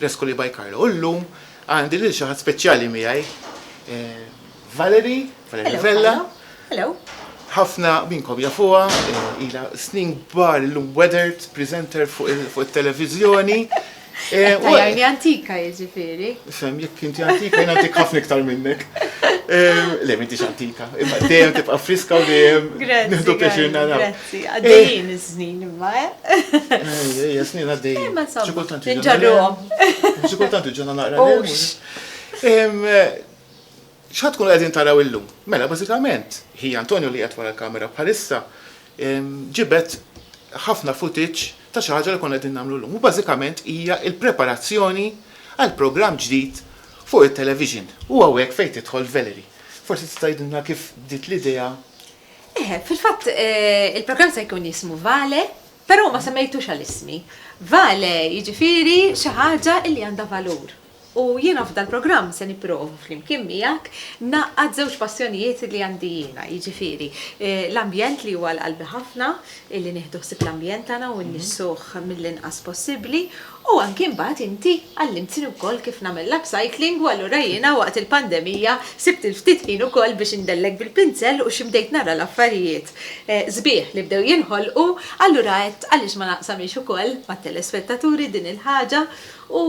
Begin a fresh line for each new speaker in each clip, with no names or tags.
L-Escoli by Carlo u llum għandi lil xi ħadd speċjali miegħi, Valerie, Valerie Vella. Hello. Ħafna minnkom jafuha, ilha snin kbar illum weathered presenter fuq it-televiżjoni. Qed tgħajjarni antika jiġifieri. Fem, jekk inti antika jien antik ħafna iktar minnek. Le m'intix antika, imma dejjem tibqa' friska u dejjem nieħdu pjaċir naraw. Għaddejjin iż-żnin imma, eh? Ejja, snin għaddejjin. Imma insomma, inġarruhom. Xi kultant iġuna naqra. X'ħad tkunu qegħdin taraw illum? Mela, bażikament, ħija Antonio li qed wara l-kamera bħalissa ġibet ħafna footage ta' xi ħaġa li konna qegħdin nagħmlu llum. U bażikament hija l-preparazzjoni għal programm ġdid fuq it-television. U hawnhekk fejn tidħol Valerie. Forsi tista' tgħidilna kif bdiet l-idea Eħe, fil-fatt il-programm se jkun jismu Vale, però ma semmejtux għal ismi. Vale jiġifieri xi ħaġa li għandha valur. U jiena f'dal-programm se nipprova flimkien miegħek ngħaqqad żewġ passjonijiet li għandi jiena, jiġifieri l-ambjent li huwa għal qalbi ħafna, illi nieħdu ħsieb l-ambjent tagħna u nnissuh mill-inqas possibbli, U anki mbagħad inti għallimtni wkoll kif nagħmel l-upcycling u allura jiena waqt il-pandemija sibt il-ftit ħin ukoll biex indellek bil-pinzell u xi bdejt nara l-affarijiet sbieħ li bdew jinħolqu, allura għedt għaliex ma naqsamhiex ukoll mat-telespettaturi din il-ħaġa u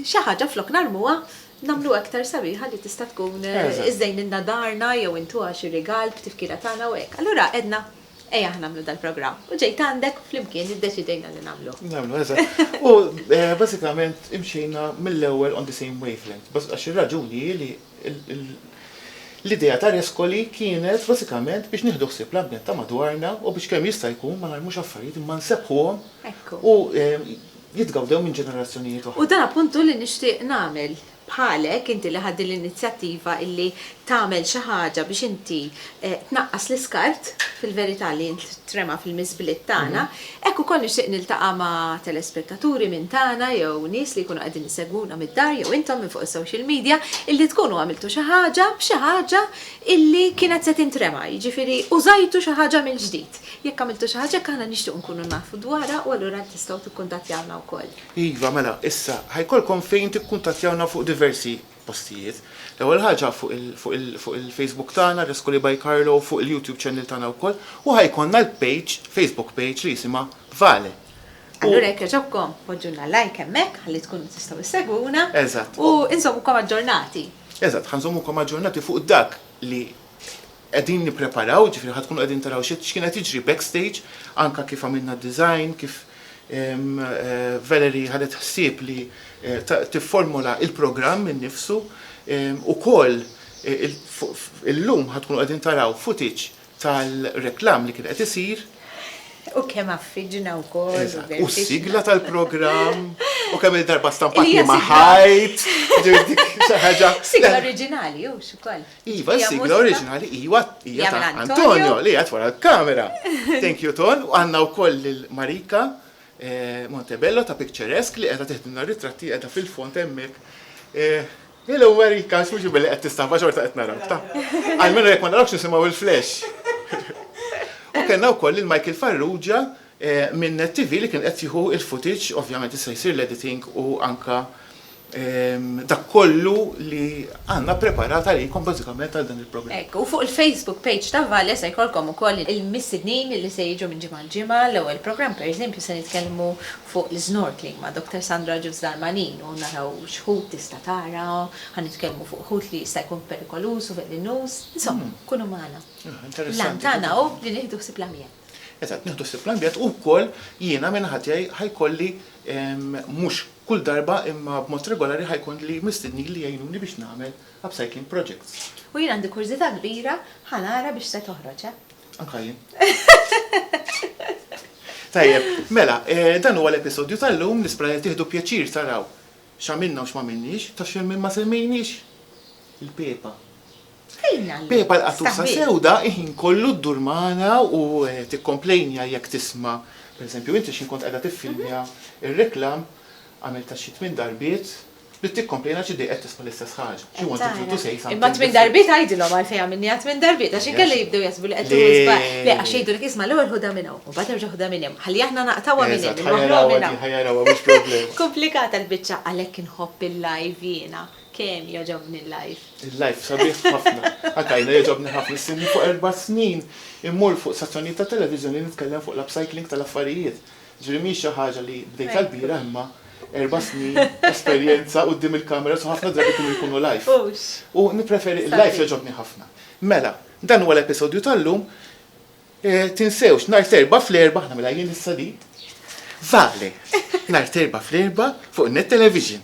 xi ħaġa flok narmuha nagħmluha iktar sabiħa li tista' tkun iżżejnilna darna jew intuha xi rigal b'tifkira tagħna u hekk. Allura għedna. Ejah nagħmlu dal-programm. U ġejt għandek u flimkien iddeċidejna li nagħmluh. Nagħmlu, eżatt. U bażikament imxejna mill-ewwel on the same wavelength. Għax ir-raġuni hi li l-idea ta' Rescoli kienet bażikament biex nieħdu ħsieb l-ambjent ta' madwarna u biex kemm jista' jkun ma narmux affarijiet imma nsebbħuhom u jitgawdew minn ġenerazzjonijiet oħra. U dan appunt hu li nixtieq nagħmel. bħalek inti li ħadt din l-inizjattiva illi tagħmel xi ħaġa biex inti tnaqqas l-iskart fil-verità li jintrema fil-miżbliet tagħna, hekk ukoll nixtieq niltaqa' ma' telespettaturi minn tagħna jew nies li jkunu qegħdin isegwuna mid-dar jew intom minn fuq is-social media illi tkunu għamiltu xi ħaġa b'xi ħaġa illi kienet se tintrema, jiġifieri użajtu xi ħaġa mill-ġdid. Jekk għamiltu xi ħaġa hekk aħna nixtiequ nkunu nafu dwarha u allura tistgħu tikkuntattjawna wkoll. Iva, mela, issa, ħa jkollkom fejn tikkuntattjawna fuq diversi postijiet. L-ewwel ħaġa fuq il, fuq il, fuq il-Facebook tagħna, Rescoli by Carlo, fuq il-YouTube channel tagħna wkoll, u ħa jkollna l-page, Facebook page li jisimha Vale. U. Allura jekk jogħġobkom poġġulna like hemmhekk ħalli tkunu tistgħu issegwuna. Eżatt. U nżommukom aġġornati. Eżatt, ħa nżommukom aġġornati fuq dak li. qegħdin nippreparaw, jiġifieri ħa tkunu qegħdin taraw x'kien qed jiġri backstage, anke kif għamilna d-design, kif Valerie ħadet ħsieb li tifformula il-programm innifsu. Ukoll illum ħa tkunu qegħdin taraw footage tal-reklam li kien qed isir. U kemm għaffiġna wkoll. Eżatt, u s-sigla tal-programm, u kemm-il darba stampatni ma' ħajt. Sigla oriġinali, hux ukoll. Iva, sigla oriġinali, iwa, hija ta' Antonio li għat wara l-kamera. Thank you, Ton. U għanna u koll il-Marika eh, Montebello ta' Picturesque li għedha teħdimna ritratti għedha fil-font emmek. Eh, Hello Marika, xmuġu billi għed tistahba xorta għed narak ta' għalmenu jek ma narakx nisimaw il-flash. U kena u koll il-Michael Farrugia eh, minn TV li kien qed jieħu il-footage, ovvjament issa jsir l-editing u anka dak kollu li għandna ppreparat għalikom bażikament għal dan il-programm. Hekk, u fuq il-Facebook page ta' Valle se jkollkom ukoll il-mistednin li se jiġu minn ġimgħa għal ġimgħa. L-ewwel programm, pereżempju, se nitkellmu fuq l-snorkeling ma' Dr. Sandra Ġus Darmanin u naraw x'ħut tista' tara, ħa nitkellmu fuq ħut li jista' jkun perikoluż u velenuż. Insomma, kunu magħna. L-għan tagħna hu li nieħdu ħsieb l-ambjent. Eżatt, nieħdu ħsieb l-ambjent u wkoll jiena minn naħa tiegħi ħa jkolli mhux Kull darba imma b'mod regolari ħa jkollni mistednin li jgħinuni biex nagħmel upcycling projects. U jien għandi kurżità kbira ħa nara biex se toħroġ, eh? Anka jien. Tajjeb, mela, dan huwa l-episodju tal-lum, nispra li tieħdu pjaċir taraw x'għamilna u x'm'għamilniex, taf x'hemm min ma semmejniex? Il-pepa. Pepa l-qattusa sewda il-ħin kollu ddur magħna u tikkomplejnja jekk tisma', pereżempju inti x'ħin kont qiegħda tiffilmja r-reklam, għamiltha xi tmien darbiet, bdiet tikkomplejna xi dejqet tisma' l-istess ħaġa. She wanted you to say something different. Imma tmien darbiet għidilhom għalfejn għamilniha tmien darbiet għax inkella jibdew jaħsbu li qed tieħu żball. Le, għax jgħidulek isma' l-ewwel ħudha minn hawn u mbagħad erġa' ħudha minn hemm. Ħalli aħna naqtgħuha minn hemm, inwaħħluha minn hawn. Komplikata l-biċċa għalhekk inħobb il-live jiena. Kemm jogħġobni l-live. Il-live sabiħ ħafna. Anke jiena jogħġobni ħafna. Issirni fuq erba' snin immur fuq stazzjonijiet ta' televiżjoni nitkellem fuq l-upcycling tal-affarijiet. Ġifieri mhijiex xi ħaġa li bdejtha l-bieraħ imma erba' snin esperjenza quddiem il-cameras u ħafna drabi kienu jkunu live. Hux. U nippreferi il-live jogħġobni ħafna. Mela, dan huwa l-episodju tal-lum. Tinsewx, nhar t'Erbgħa fl-erbgħa, aħna mela jien issa di. Vale! Nhar t'Erbgħa fl-erbgħa fuq Net Television.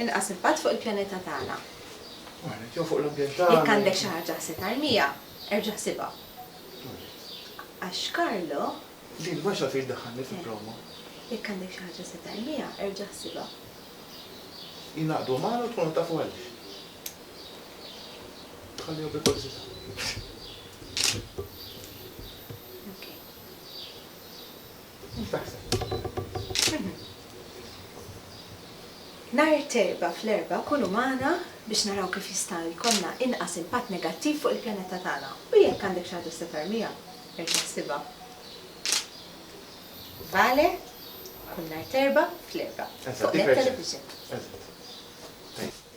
Inqas impatt fuq il-pjaneta tagħna. Jew fuq l-ambjent tagħna. Jekk għandek xi ħaġa ħseb armija, erġa' ħsibha. Għax Carlo. Din ma x'għad iddaħħalni fi promo. Jekk għandek xi ħaġa ħseb armija, erġa' ħsibha. Jingħaqdu magħna u tkunu tafu għaliex. Nhar it-Erbgħa fl-erbgħa kunu magħna biex naraw kif jista' jkollna inqas impatt negattiv fuq il-pjaneta tagħna u jekk għandek xi ħaġa x'se tarmiha, erġa' ħsibha. Vale, kull nhar t'Erbgħa fl-erbgħa, fuq Net Television.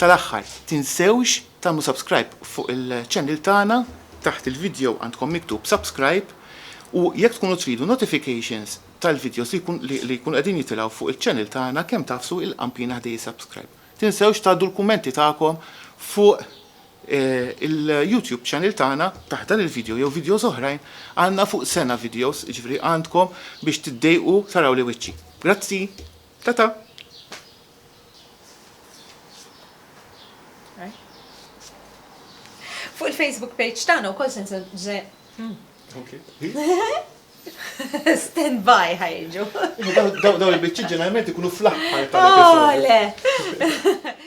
Tal-aħħar, tinsewx tagħmlu subscribe fuq il-channel tagħna, taħt il-video għandkom miktub subscribe, u jekk tkunu tridu notifications tal-videos li jkunu qegħdin jitilgħu fuq il-channel tagħna kemm tagħfsu il-qampina ħdej is-subscribe. Tinsewx tgħaddu l-kummenti tagħkom fuq il-YouTube channel tagħna taħt dan il-video jew videos oħrajn, għandna fuq sena videos, jiġifieri għandkom biex tiddejqu taraw li wiċċi. Grazzi! Ta ta. Fuq il-Facebook page tagħna wkoll se Stand by ħajġu. Dawn il-biċċiet ġeneralment ikunu fl-aħħar tal-episodju.